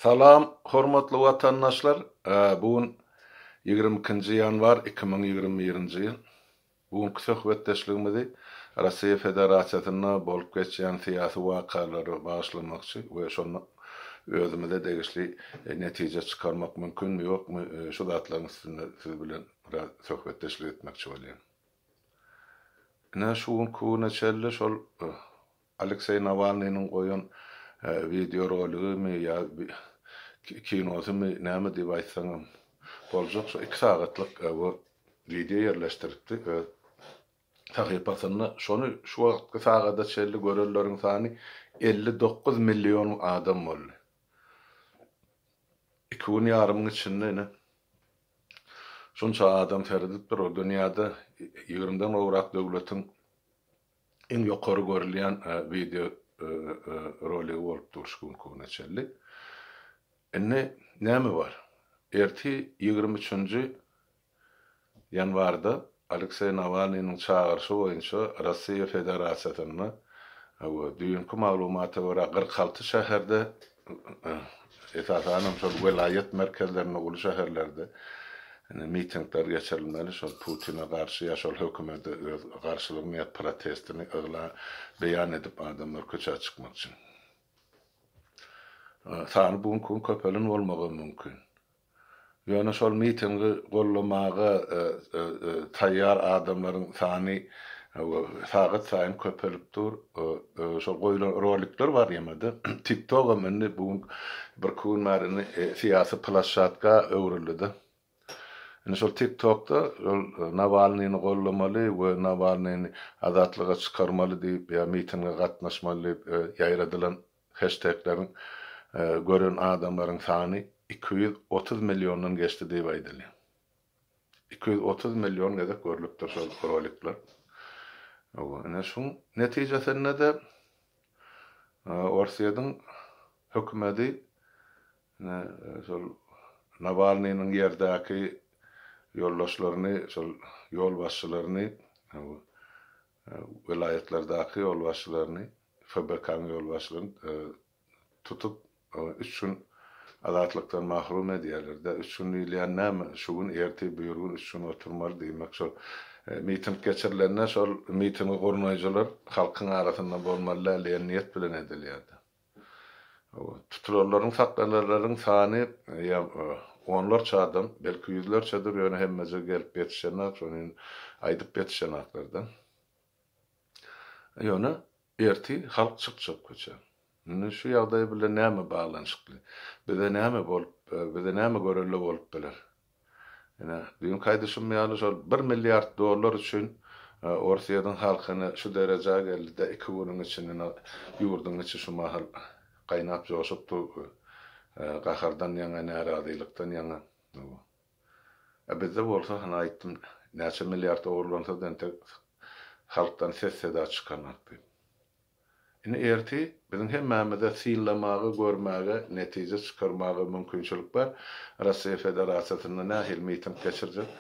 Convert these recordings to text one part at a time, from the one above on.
Salam hormatly watandaşlar bu gün ýigrimi ikinji ýanwar iki müň ýigrimi birinji ýyl bu günki söhbetdeşligimizi Russiýa Federasiýasynda bolup geçýän syýasy wakalara bagyşlamakçy we şonda özümize degişli netije çykarmak mümkinmi ýokmy şu zatlaryň üstünde siz bilen biraz söhbetdeşlik etmekçi bolýan. Ine şu günki güne çenli şol Alekseý Nawalnynyň goýan wideoroligimi ýa kinosymy näme diýip aýtsaňam boljak, şo iki sagatlyk bu wideo ýerleşdiripdi öz sahypasynda. Şony şu wagtky sagada çenli görenleriň sany elli dokuz million adam boldy. Iki gün ýarymyň içinde ine şunça adam seredipdir. Ol dünýäde ýigrimidan gowrak döwletiň Iň ýokary görülýän wideo roligi bolupdyr şu günki güne çenli. Indi näme bar? Ertir ýigrimi üçünji ýanwarda Alekseý Nawalnynyň çagyryşy boýunça Russiýa Federasiýasynda we düýnki maglumata görä kyrk alty şäherde Esasanam şol welaýat merkezlerinde, uly şäherlerde mitingler geçirilmeli, şol Putine garşy ýa şol hökümete öz garşylygyny ýa protestini yglan, beýan edip adamlar köçä çykmak üçin. Sany bu günki gün köpelen bolmagam mümkin. Ýöne şol mitingi gollamaga taýýar adamlaryň sany sagat saýyn köpelip dur. Şol goýlan rolikler bar ýaňa-da. Tiktogam indi bu gün, birki gün bäri indi syýasy plashatka öwrüldi-de. Indi şol tiktokda şol Nawalnyny gollamaly we Nawalnyny azatlyga çykarmaly diýip ýa mitinge gatnaşmaly diýip ýaýradylan Heştegleriň gören adamlaryň sany iki ýüz otuz milliondan geçdi diýip aýdylýar. Iki ýüz otuz million gezek görlüpdir şol rolikler. Ine şuň netijesinde-de Orsýetiň hökümeti ine şol Nawalnynyň ýerdäki ýoldaşlaryny, şol ýolbaşçylaryny welaýatlardaky ýolbaşçylaryny, FBK-nyň ýolbaşçylaryny tutup, üç gün azatlykdan mahrum edýärler-de, üç gün diýilýän näme, şu gün, ertir, biri gün üç gün oturmaly, diýmek, şol miting geçirilende, şol mitingi gurnaýjylar halkyň arasynda bolmaly däl diýen niýet bilen edilýär-de. Tutulanlaryň, saklananlaryň sany ýa onlarça adam, belki ýüzlerçedir, ýöne hemmeje gelip ýetişenak, şonuň aýdyp ýetişenaklar-da. Ýöne ertir halk çykjak köçä. Indi şu ýagdaý bilen näme baglanyşykly? Bize näme bolup, bize näme görelde bolup biler? Ine, düýnki aýdyşym ýaly şol bir milliard dollar üçin Orsýetiň halkyny şu derejä geldi-de, iki günüň içinde ine, ýurduň içi şu mahal gaýnap-joşup dur bu gahardan ýaňa, närazylykdan ýaňa. A bizde bolsa, hany aýtdym, näçe milliard ogurlansa-da entek halkdan ses-seda çykanok diýip. Indi ertir biziň hemmämize synlamaga, görmäge, netije çykarmaga mümkinçilik bar. Russiýa Federasiýasynda nähili miting geçirjek?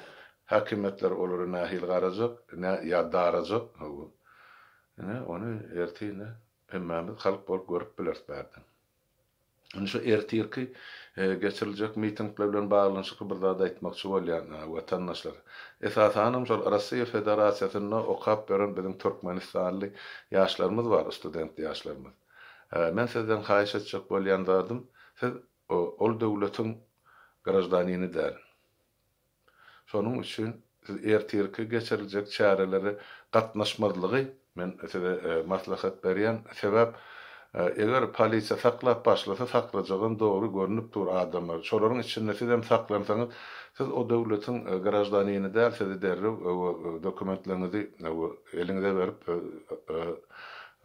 Häkimiýetler olara nähili garajak? Nä ýa darajak? Hawa. Ine, ony ertir indi hemmämiz halk bolup görüp bileris bärden. Indi şu ertirki geçiriljek mitingler bilen baglanyşykly bir zat aýtmakçy bolýan, watandaşlar. Esasanam şol Russiýa Federasiýasynda okap ýören biziň türkmenistanly ýaşlarymyz bar, student ýaşlarymyz. Men sizden haýyş etjek bolýan zadym, siz ol döwletiň graždanini däl. Şonuň üçin siz ertirki geçiriljek çärelere gatnaşmazlygy men size maslahat berýän. Sebäp eger polisiýa saklap başlasa saklajagam dogry görnüp dur adamlar. Şolaryň içinde sizem saklansaňyz siz o döwletiň graždanini däl sizi derrew dokumentleriňizi eliňize berip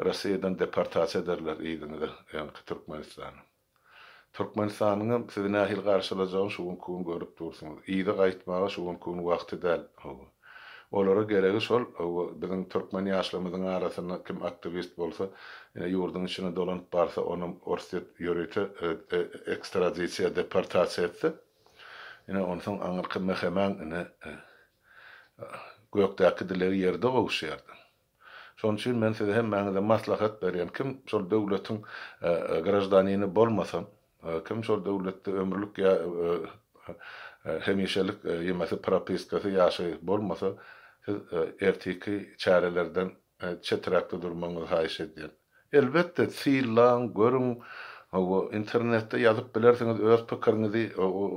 Rossiýadan deportasiýa ederler yzyňyza öňki Türkmenistana. Türkmenistanyňam sizi nähili garşylajagyny şu günki gün görüp dursuňyz. Yza gaýtmaga şu günki gün wagty däl. Hawa. Olara geregi şol, hawa, biziň türkmen ýaşlarymyzyň arasynda kim aktiwist bolsa, ine, ýurduň içine dolanyp barsa, onam Orsýet ýörite ekstradisiýa, deportasiýa etse, ine, onsoň aňyrky mehemäň, ine, gökdäki dilegi ýerde gowuşýardy. Şonuň üçin men size hemmäňize maslahat berýän, kim şol döwletiň graždanini bolmasa, kim şol döwletde ömürlik ýa hemişelik ýemese propiskasy ýaşy bolmasa, siz ertiki çärelerden çeträkde durmagyňyzy haýyş edýän. Elbetde, sylaň, görüň, hawa, internetde ýazyp bilersiňiz öz pikiriňizi,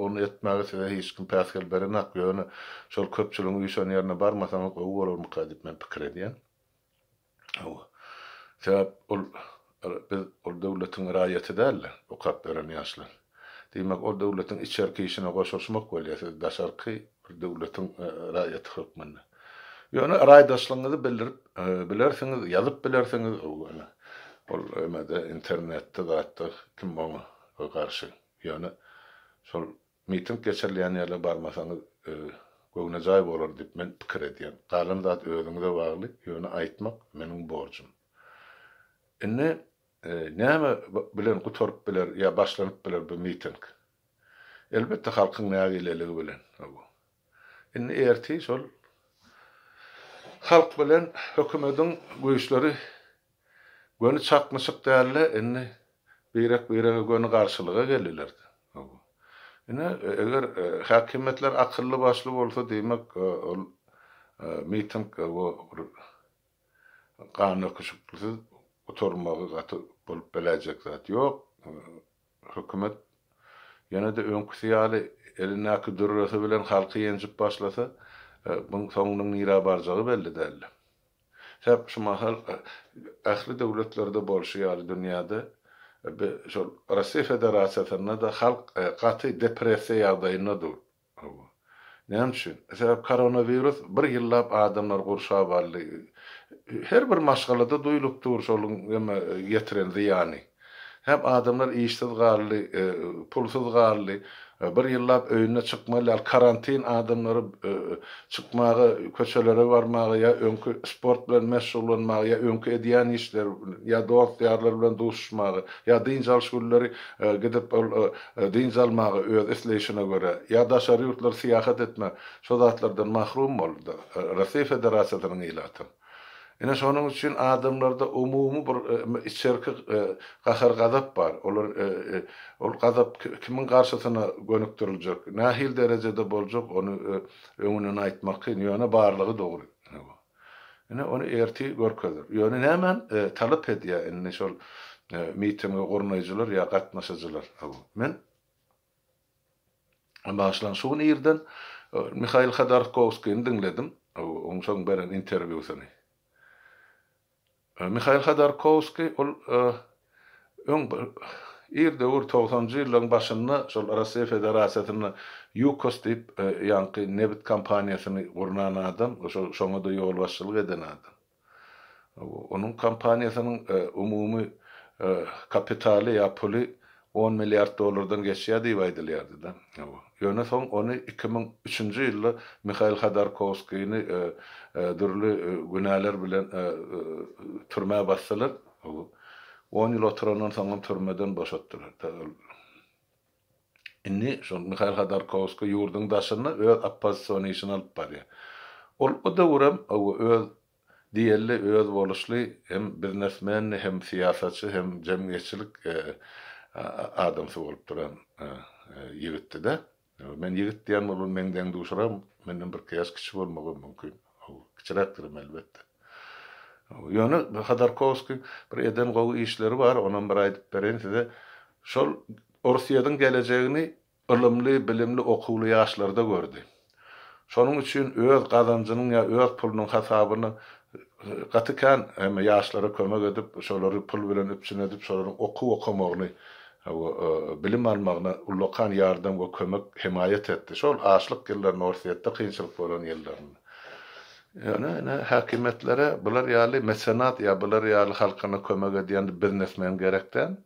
ony etmäge size hiç kim päsgel berenak, ýöne şol köpçüligiň üýşen ýerine barmasaňyz gowy bolarmyka diýip men pikir edýän. Hawa. Sebäp ol biz ol döwletiň raýaty dälde, okap ýören ýaşlar. Diýmek, ol döwletiň içerki işine goşulyşmak bolýar, siz daşarky bir döwletiň raýaty hökmünde. Ýöne raýdaşlygyňyzy bildirip bilersiňiz, ýazyp bilersiňiz, ýöne ol emede internetde zatda kim oňa garşy. Ýöne şol miting geçirilýän ýerlere barmasaňyz göwnejaý bolar diýip men pikir edýän. Galan zat özüňize bagly, ýöne aýtmak meniň borjum. Indi Näme bilen gutaryp biler ýa başlanyp biler bu miting? Elbetde halkyň nägileligi bilen. Indi ertir şol halk bilen hökümediň güýçleri göni çaknyşyk dälde indi birek birege göni garşylyga geliler. Ine eger häkimiýetler akylly başly bolsa diýmek ol miting bir ganöküşikliksiz gutarmagy gaty bolup beläýjek zat ýok. Hökümet ýene-de öňküsi ýaly elindäki dürresi bilen halky ýenjip başlasa, buň soňunyň nirä barjagy belli däldi. Sebäp şu mahal ähli döwletlerde bolşy ýaly dünýäde şol Russiýa Federasiýasynda-da halk gaty depressiýa ýagdaýynda dur. Hawa. Näme üçin? Sebäbi koronawirus bir ýyllap adamlary gurşap aldy. Her bir maşgalada duýlup dur şol näme ýetiren zyýany. Hep adamlar işsiz galdy, pulsuz galdy. Bir ýyllap öýüne çykmaly däl. Karantin adamlary çykmaga, köçelere barmaga ýa öňki sport bilen meşgullanmaga ýa öňki edýän işleri ýa dost-ýarlary bilen duşuşmaga ýa dynç alyş günleri gidip ol dynç almaga öz isleýşine görä, ýa daşary ýurtlara syýahat etme, şo zatlardan mahrum boldy, Russiýa Federasiýasynyň ilaty. Ine şonuň üçin adamlarda umumy bir içerki gahar-gazap bar. Olar ol gazap kimiň garşysyna gönükdiriljek, nähili derejede boljak, ony öňünden aýtmak kyn, ýöne barlygy dogry. Ine bu. Ine, ony ertir görkezer. Ýöne nämän talap edýär indi şol mitingi gurnaýjylar ýa gatnaşyjylar? Hawa, men başlan şu gün irden Mihail Hodorkowskini diňledim, onsoň beren interwýusyny. Mihail Hodorkowskiý ol öň bir ir döwür togsanjy ýyllaryň başynda şol Russiýa Federasiýasynda Ýukos diýip ýaňky nebit kompaniýasyny gurnan adam, şoňa-da ýolbaşçylyk eden adam. Onuň kompaniýasynyň umumy kapitaly ýa puly On milliard dollardan geçýär diýip aýdylýardy-da. Ýöne soň ony iki müň üçünji ýylda Mihail Hodorkowskini dürli günäler bilen türmä basdylar. On ýyl oturandan soňam türmeden boşatdylar. Indi şol Mihail Hodorkowski ýurduň daşynda öz oppozision işini alyp barýar. Ol o döwürem öz Diýeli özboluşly hem biznesmendi hem syýasatçy hem jemgyýetçilik adamsy bolup duran ýigitdi-de. Men ýigit diýen ol bir meň deň-duşram, menden birki ýaş kiçi bolmagam mümkin. Kiçiräkdirim elbetde. Ýöne Hodorkowskiň bir eden gowy işleri bar, onam bir aýdyp bereýin size. Şol Orsyýediň gelejegini ylymly, bilimli, okuwly ýaşlarda gördi. Şonuň üçin öz gazanjynyň ýa öz pulunyň hasabyny gaty kän hem ýaşlara kömek edip, şolary pul bilen üpjün edip, şolaryň okuw okamagyny we bilim almagyna ullakan ýardam we kömek, hemaýat etdi. Şol açlyk ýyllarynda, Orsýetde kynçylyk bolan ýyllarynda. Ýöne ine, häkimiýetlere bular ýaly mesenat ýa bular ýaly halkyna kömek edýän biznesmen gerek däl.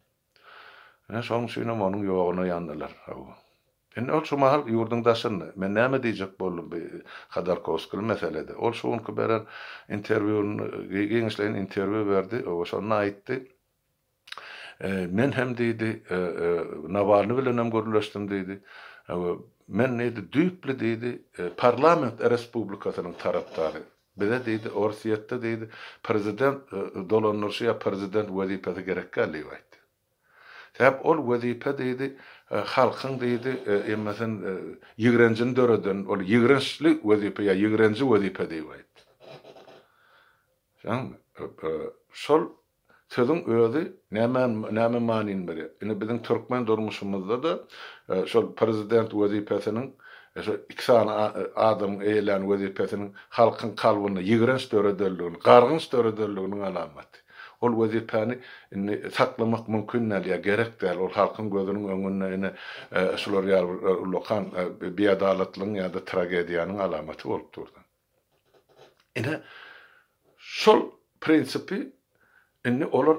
Ine, şonuň üçinem onuň ýoguna ýandylar. Hawa. Indi ol şu mahal ýurduň daşynda. Men näme diýjek boldum bi Hodorkowskili meselede. Ol şu günki beren interwýun, gi, giňişleýin interwýu berdi. Hawa, şonda aýtdy. E, men hem diýdi, e, e, Nawalny bilenem gürleşdim diýdi. Hawa, men diýdi, düýpli diýdi, e, parlament respublikasynyň tarapdary. Bize diýdi, Orsýetde diýdi, prezident dolandyryşy ýa prezident wezipesi gerek däl diýip aýtdy. Sebäp ol wezipe diýdi, halkyň diýdi, emmesin ýigrenjini döreden, ol ýigrençli wezipe ýa ýigrenji wezipe diýip aýtdy. Şol Sözüň özi näme näme manyny berýär? Indi biziň türkmen durmuşymyzda-da şol prezident wezipesiniň şo iki sany adamyň eýelän wezipesiniň halkyň kalbynda ýigrenç döredenligini, gargynç döredenliginiň alamaty. Ol wezipäni indi saklamak mümkin däl ýa gerek däl. Ol halkyň gözüniň öňünde ine şular ýaly bir ullakan biadalatlygyň ýa-da tragediýanyň alamaty bolup durdy. Ine, şol prinsipi indi olar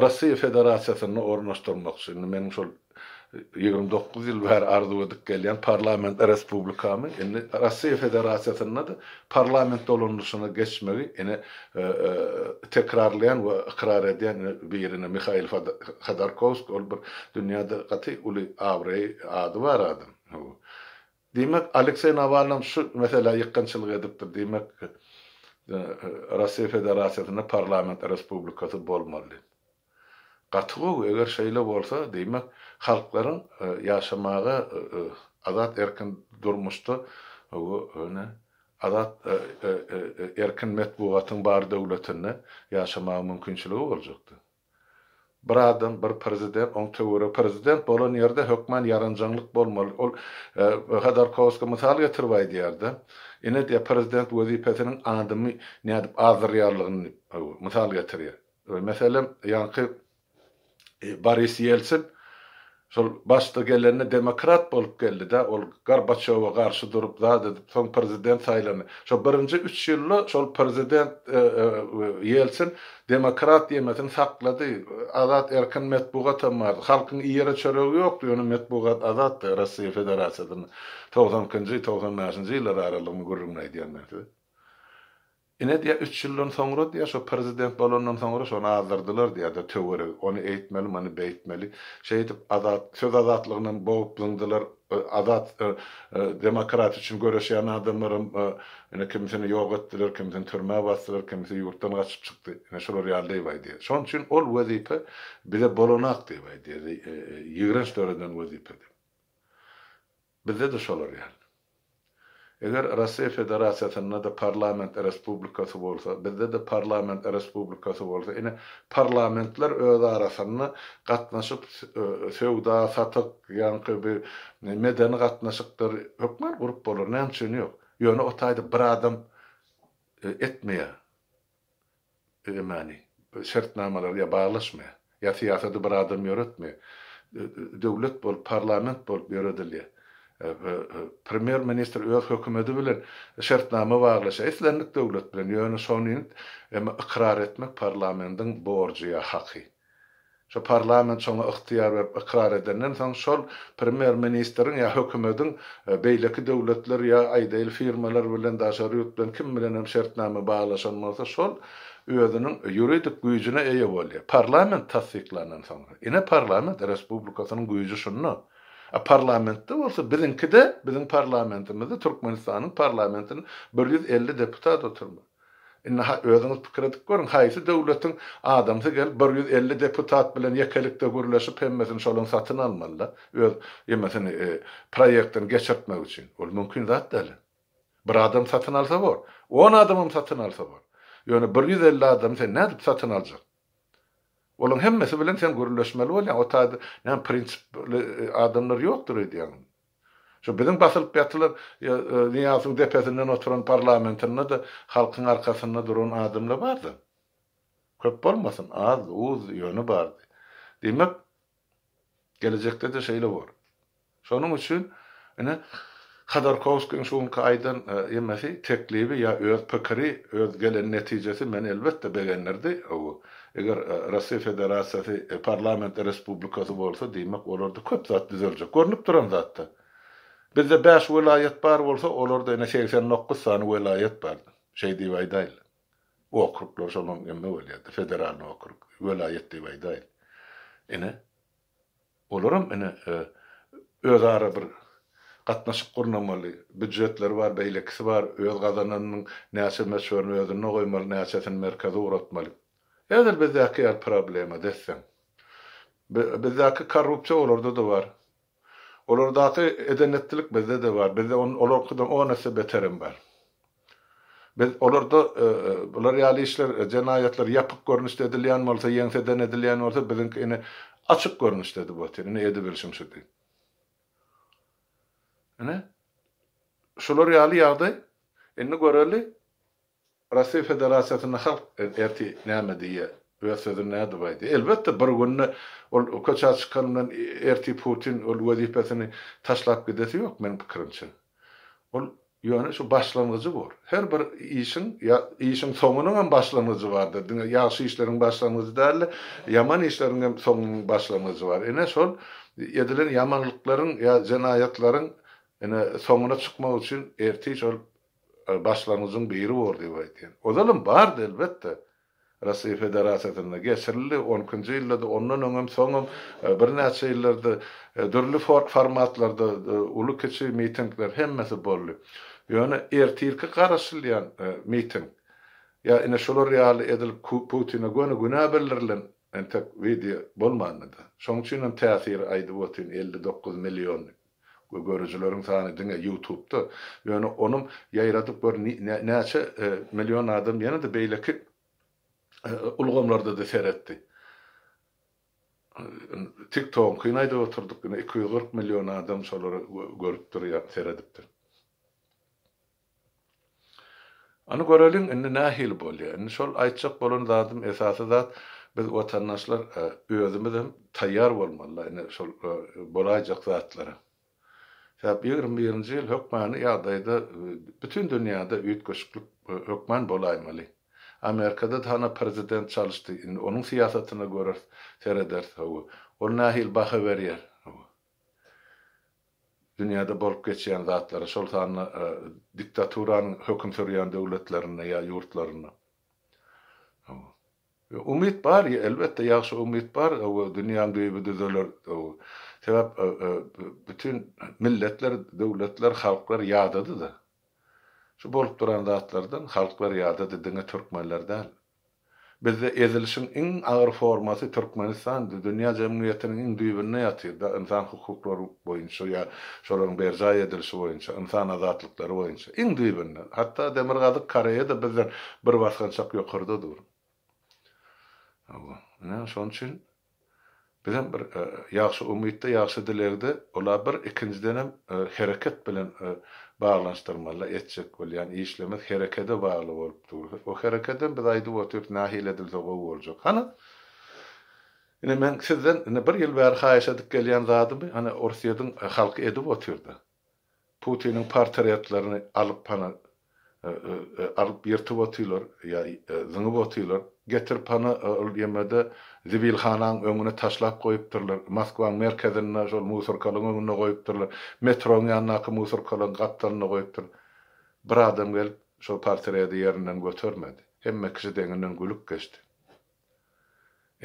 Russiýa Federasiýasynda ornaşdyrmakçy. Indi meniň şol ýigrimi dokuz ýyl bäri arzuw edip gelýän parlament respublikamy indi Russiýa Federasiýasynda-da parlament dolanyşyna geçmegi ine tekrarlaýan we ykrar edýän biri indi Mihail Hodorkowskiý ol bir dünýäde gaty uly abraýy, ady bar adam. Diýmek, Alekseý Nawalnyň şu meselä ýykgynçylyk edipdir. Diýmek, Russiýa Federasiýasynda parlament respublikasy bolmaly. Gaty gowy, eger şeýle bolsa, diýmek, halklaryň ýaşamaga, azat erkin durmuşda, ýöne azat erkin metbugatyň bar döwletinde ýaşamaga mümkinçiligi boljakdy. Bir adam bir prezident oň töweri prezident bolan ýerde hökman ýaranjaňlyk bolmaly ol Hodorkowsky mysal getirip aýdýarda ine diýýär prezident wezipesiniň adamy nädip azdyrýarlygyny diýip mysal getirýär meselem ýaňky Boris Ýelsin Şol başda gelende demokrat bolup geldidä ol Gorbaçýowa garşy durup zat edip soň prezident saýlandy. Şo birinji üç ýylda şol prezident Ýelsin demokrat diýmesini saklady. Azat erkin metbugatam bardy. Halkyň iýere çöregi ýokdy ýöne metbugat azatdy Rossiýa Federasiýasynda togsan ikinji togsan bäşinji ýyllar aralygyny gürrüňini aýdýan men size. Ine diýýär üç ýyldan soňra diýýär şo prezident bolandan soňra şony azdyrdylar diýýär-de töweregi ony eýtmeli muny beýtmeli şeýdip azat söz azatlygynam bogup zyňdylar azat demokratiýa üçin göreşýän adamlaram ine kimisini ýok etdiler kimisini türmä basdylar kimisi ýurtdan gaçyp çykdy ine şular ýaly diýip aýdýar şonuň üçin ol wezipe bize bolanak diýip aýdýar ýigrenç döreden wezipedi. Bizde-de şolar ýaly. Eger Russiýa Federasiýasynda-da parlament respublikasy bolsa, bizde-de parlament respublikasy bolsa, ine, parlamentler öz arasynda gatnaşyp, söwda, satyk, ýaňky bir medeni gatnaşykdyr, hökman gurup bolar, näme üçin ýok? Ýöne o taýda bir adam etmeýär. Emani, şertnamalary ýa baglaşmy, ýa syýasady bir adam ýöretmi, döwlet bolup, parlament bolup ýöredilýär. Premýer ministr öz hökümedi bilen şertnama baglaşýar, islendik döwlet bilen, ýöne şony ykrar etmek parlamendiň borjy ýa haky. Şu parlament şoňa ygtyýar berip ykrar edenden soň şol premýer-ministriň ýa hökümediň beýleki döwletler ýa aýdaýyl firmalar bilen daşary ýurt bilen kim bilenem şertnama baglaşan bolsa şol özüniň ýuridik güýjüne eýe bolýar. Parlament tassyklandan soňra. Ine parlament respublikasynyň güýji şunda. A parlamentde bolsa biziňkide biziň parlamentimizde Türkmenistanyň parlamentinde bir ýüz elli deputat oturmaz. Indi-ha özüňiz pikir edip görüň, haýsy döwletiň adamsy gelip bir ýüz elli deputat bilen ýekelikde gürleşip hemmesini şolaň satyn almaly-da, öz emesini, proýektini geçirtmek üçin? Ol mümkin zat däl-ä. Bir adam satyn alsa bor. On adamam satyn alsa bor. Ýöne bir ýüz elli adamy sen nädip satyn aljak? Olaň hemmesi bilen sen gürleşmeli bolýaň. O taýda näme prinsipli adamlar ýokdur öýdýäňizmi? Şu biziň basylyp ýatylan Nyýazyň depesinden oturan parlamentinde-de halkyň arkasynda duran adamlar bardy. Köp bolmasyn, az, uz, ýöne bardy. Diýmek, gelejekde-de şeýle bor. Şonuň üçin, ine, Hodorkowskiň şu günki aýdan emesi, teklibi ýa öz pikiri, öz gelen netijesi meni elbetde begendirdi. Eger Russiýa Federasiýasy parlamentli respublikasy bolsa, diýmek, olarda köp zat düzeljek. Görnüp duran zat-da. Bizde bäş welaýat bar bolsa, olarda ene segsen dokuz sany welaýat bar. Şeý diýip aýdaýynly. Okruglar şonuň emmi bolýar-da, federalnyý okrug, welaýat diýip aýdaýyn. Ine. Olaram ine özara bir gatnaşyk gurnamaly. Býujetleri bar, beýlekisi bar. Öz gazananynyň näçe möçberini özünde goýmaly, näçesini merkeze ugratmaly. Häzir bizdäki ýaly problema desseň. Bizdäki korrupsiýa olarda-da bar. Olardaky eden-etdilik bizde-de bar. Bizde olarkydan on esse beterem bar. Biz olarda bular ýaly işler, jenaýatlar ýapyk görnüşde edilýän bolsa, ýeňseden edilýän bolsa, biziňki ine açyk görnüşdedi bu otin, ine edibilişim şu diýip. Ine, şular ýaly ýagdaý. Indi göreli, Russiýa Federasiýasynda halk ertir näme diýýär, öz sözüni nädip aýdýar. Elbetde, bir günde ol köçä çykan bilen ertir Putin ol wezipesini taşlap gidesi ýok, meniň pikirimçe. Ol Ýöne şu başlangyjy bor. Her bir işiň ýa işiň soňunyň hem başlangyjy bardyr. Diňe ýagşy işleriň başlangyjy däl-de, ýaman işleriň hem soňunyň başlangyjy bar. Ine, şol edilen ýamanlyklaryň ýa jenaýatlaryň, ine, soňuna çykmak üçin ertir şol başlangyjyň biri bor diýip aýdýan. Ozal hem bardy, elbetde. Russiýa Federasiýasynda geçirildi. On ikinji ýylda-da, ondan öňem, soňam birnäçe ýyllardyr dürli formatlarda uly-kiçi mitingler hemmesi boldy. Ýöne ertirki garaşylýan miting ýa ine şular ýaly edilip Putine göni günä bildirilen entek wideo bolmandy-da. Şoň üçinem täsiri aýdyp otyryn elli dokuz million diýip. we görüjileriň sany diňe ýutubda ýöne onuň ýaýradyp gör näçe million adam ýene-de beýleki ulgamlarda-da seretdi tiktogyňkyny aýdyp oturdyk diňe iki ýüz kyrk million adam şolary görüpdir ýa seredipdir. Ony göreliň, indi nähili bolýar? Indi şol aýtjak bolan zadym, esasy zat, biz watandaşlar özümizem taýýar bolmaly-da indi şol bolaýjak zatlara. Sebäbi ýigrimi birinji ýyl hökmany ýagdaýda bütin dünýäde üýtgeşiklik hökman bolaýmaly. Amerikada-da hana prezident çalyşdy, indi onuň syýasatyna göreris, serederis, hawa, ol nähili baha berýär, hawa. Dünýäde bolup geçýän zatlara, şol sanda diktaturanyň höküm sürýän döwletlerinde ýa ýurtlarynda. Umyt bar, elbetde, ýagşy umyt bar, dünýäň düýbi düzeler. Sebäp bütin milletler, döwletler, halklar ýadady-da. Şu bolup duran zatlardan halklar ýadady, diňe türkmenler däl. Bizde ezilişiň iň agyr formasy Türkmenistan dünýä jemgyýetiniň iň düýbünde ýatyr da ynsan hukuklary boýunça ýa şolaryň berjaý edilişi boýunça ynsan azatlyklary boýunça iň düýbünde hatda demirgazyk koreýada bizden bir basgançak ýokarda dur ine şonuçin Bizem bir ýagşy umytda, ýagşy dilegde ola bir ikinjidenem hereket bilen baglanyşdyrmaly-da etjek bolýan işlemiz herekede bagly bolup dur. O herekedem biz aýdyp otyrs nähili edilse gowy boljak. Hany ine men sizden ine bir ýyl bäri haýyş edip gelýän zadymy hany Orsýediň halky edip otyr-da. Putiniň portretlerini alyp pana alyp ýyrtyp otylar ýa zyňyp otylar. Getirip pana ol ýemede zibilhanaň öňüne taşlap goýupdyrlar. Moskwaň merkezinde şol musorkalyň öňünde goýupdyrlar. Metroň ýanyndaky musorkalyň gapdalynda goýupdyr. Bir adam gelip şol portreti ýerinden götermedi. Hemme kişi deňinden gülüp geçdi.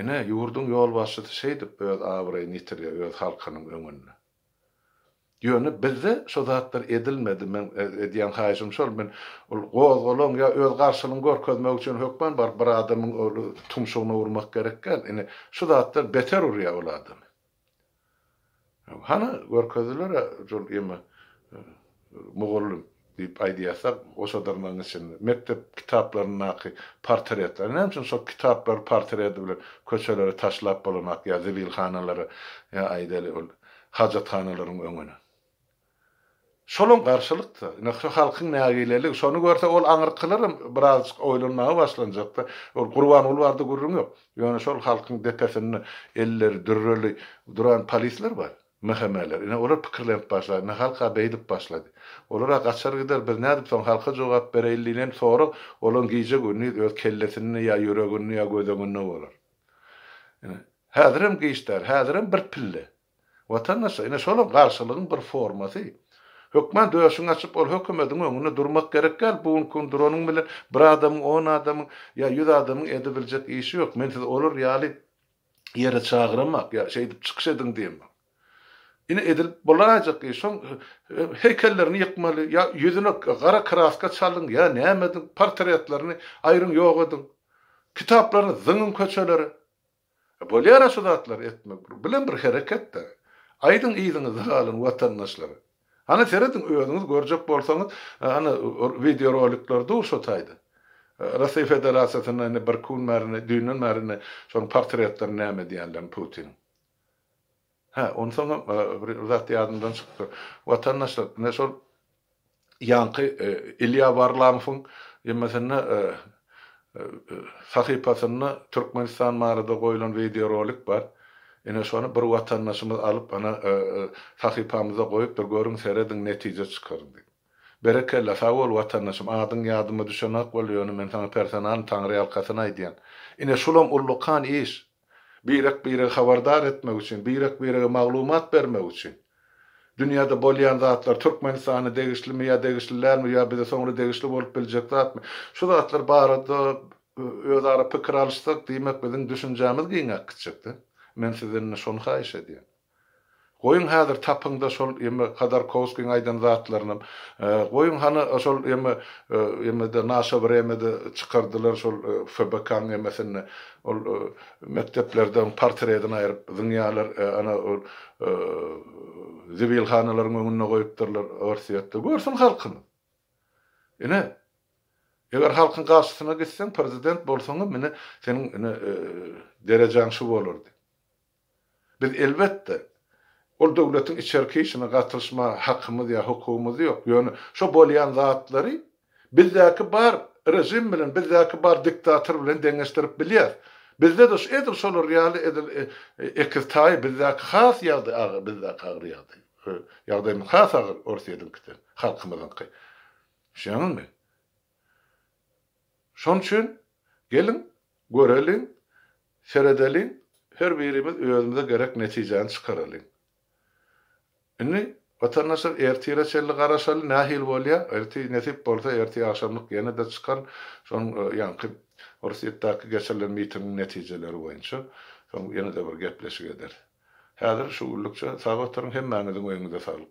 Ine, ýurduň ýolbaşçysy şeýdip öz abraýyny ýitirýär öz halkynyň öňünde. Ýöne bizde şo zatlar edilmedi. Meň edýän haýyşym şol, men ol gozgalaň ýa öz garşylygyňy görkezmek üçin hökman baryp bir adamyň ol tumşugyna urmak gerek däl. Indi şu zatlar beter urýar ol adamy. Hany görkezdiler-ä şol ýymy. Mugallym, diýip aýdýarsak, o şadyrnagyň içinde, mekdep kitaplaryndaky portretler, näme üçin şol kitaplary portreti bilen köçelere taşlap bolanak ýa zibilhanalara, ýa aýdaýly, ol hajathanalaryň öňüne? Şolam garşylyk-da. Ine, şu halkyň nägileligi. Şony görse, ol aňyrkylaram birazajyk oýlanmaga başlanjak-da. Ol Gurbanguly barada gürrüň ýok. Ýöne şol halkyň depesinde elleri dürreli duran polisler bar. Mehemeler. Ine, olar pikirlenip başlady. Ine, halk-a beýdip başlady. Olar-a gaçar gider, biz nädip soň halka jogap bereýin diýlen sorag olaryň gije-gündiz öz kellesinde ýa ýüreginde ýa gödeňinde bolar. Ine, häzirem giç däl, häzirem bir pille. Watandaşlar, ine, şolam garşylygyň bir formasy. Hökman döşüňi açyp, ol hökümediň öňünde durmak gerek däl, bu gün gün duranyň bilen bir adamyň, on adamyň ýa ýüz adamyň edebiljek işi ýok. Men siz olar ýaly ýere çagyramak ýa şeýdip çykyş ediň diýmek. Ine edil bolaýjak iş şoň heýkellerini ýykmaly ýa ýüzüne gara kraska çalyň ýa näme ediň portretlerini aýryň ýok ediň. Kitaplaryny zyňyň köçelere. Bolýara şu zatlary etmek bilen bir hereketde. Aýdyň yzyňyzda galan watandaşlar Hany serediň özüňiz görjek bolsaňyz ana wideo rolikler dur şo taýda. Rasiýa Federasiýasynda indi birki gün bäri indi düýnden bäri indi şonuň portretlerini näme edýänlerini Putiniň. Hä onsoň hem bir zat ýadymdan çykdy. Watandaşlar ine şol ýaňky Ilýa Warlamowyň ýmsynda sahypasynda Türkmenistan barada goýlan wideorolik bar. Ine şony bir watandaşymyz alyp ana sahypamyza goýupdyr görüň serediň netije çykaryň diýip. Berekella sag bol watandaşym adyň ýadyma düşenok boldy ýöne men saňa personalny taňryýalkasyn aýdýan. Ine şulam ullakan iş. birek-biregi habardar etmek üçin, birek-birege maglumat bermek üçin, dünýäde bolýan zatlar, Türkmenistana degişlimi ýa degişli dälmi ýa bize soňra degişli bolup biljek zatmy, şu zatlar barada özara pikir alyşsak, diýmek, biziň düşünjämiz giňäp gitjek-de. Men sizden indi şony haýyş edýän. Goýuň häzir tapyňda şol ýeme Hodorkowskiň aýdan zatlarynam. Goýuň hany şol ýeme ýemede Naşe wremede çykardylar şol FBK-nyň ýemesinde. Ol mekdeplerden portredini aýryp zyňýarlar ana ol zibilhanalaryň öňünde goýupdyrlar Orsýetde. Görsün halkymyz. Ine eger halkyň garşysyna gitseň prezident bolsaňam ine seniň ine derejäň şu bolardy. Biz, elbetde, ol döwletiň içerki işine gatylyşma hakymyz ýa hukugymyz ýok, ýöne şo bolýan zatlary bizdäki bar režim bilen, bizdäki bar diktator bilen deňeşdirip bilýäs. Bizde-de edil şolar ýaly edil ekiz taýy, bizdäki has ýagdaý agyr, bizdäki agyr ýagdaý. Ýagdaýymyz has agyr Orsýetiňkiden, halkymyzyňky. Düşünýäňizmi? Şonuň üçin, geliň, Göreliň, seredeliň, her birimiz özümize gerek netijäni çykaralyň. Indi, watandaşlar, ertire çenli garaşaly, nähili bolýa? Ertir, nesip bolsa, ertir agşamlyk ýene-de çykan, şoň ýaňky Orsýetdäki geçirilen mitingiň netijeleri boýunça, soň ýene-de bir gepleşik ederis. Häzir şu günlükçe sag oturyň, hemmäňiziň öýüňize saglyk!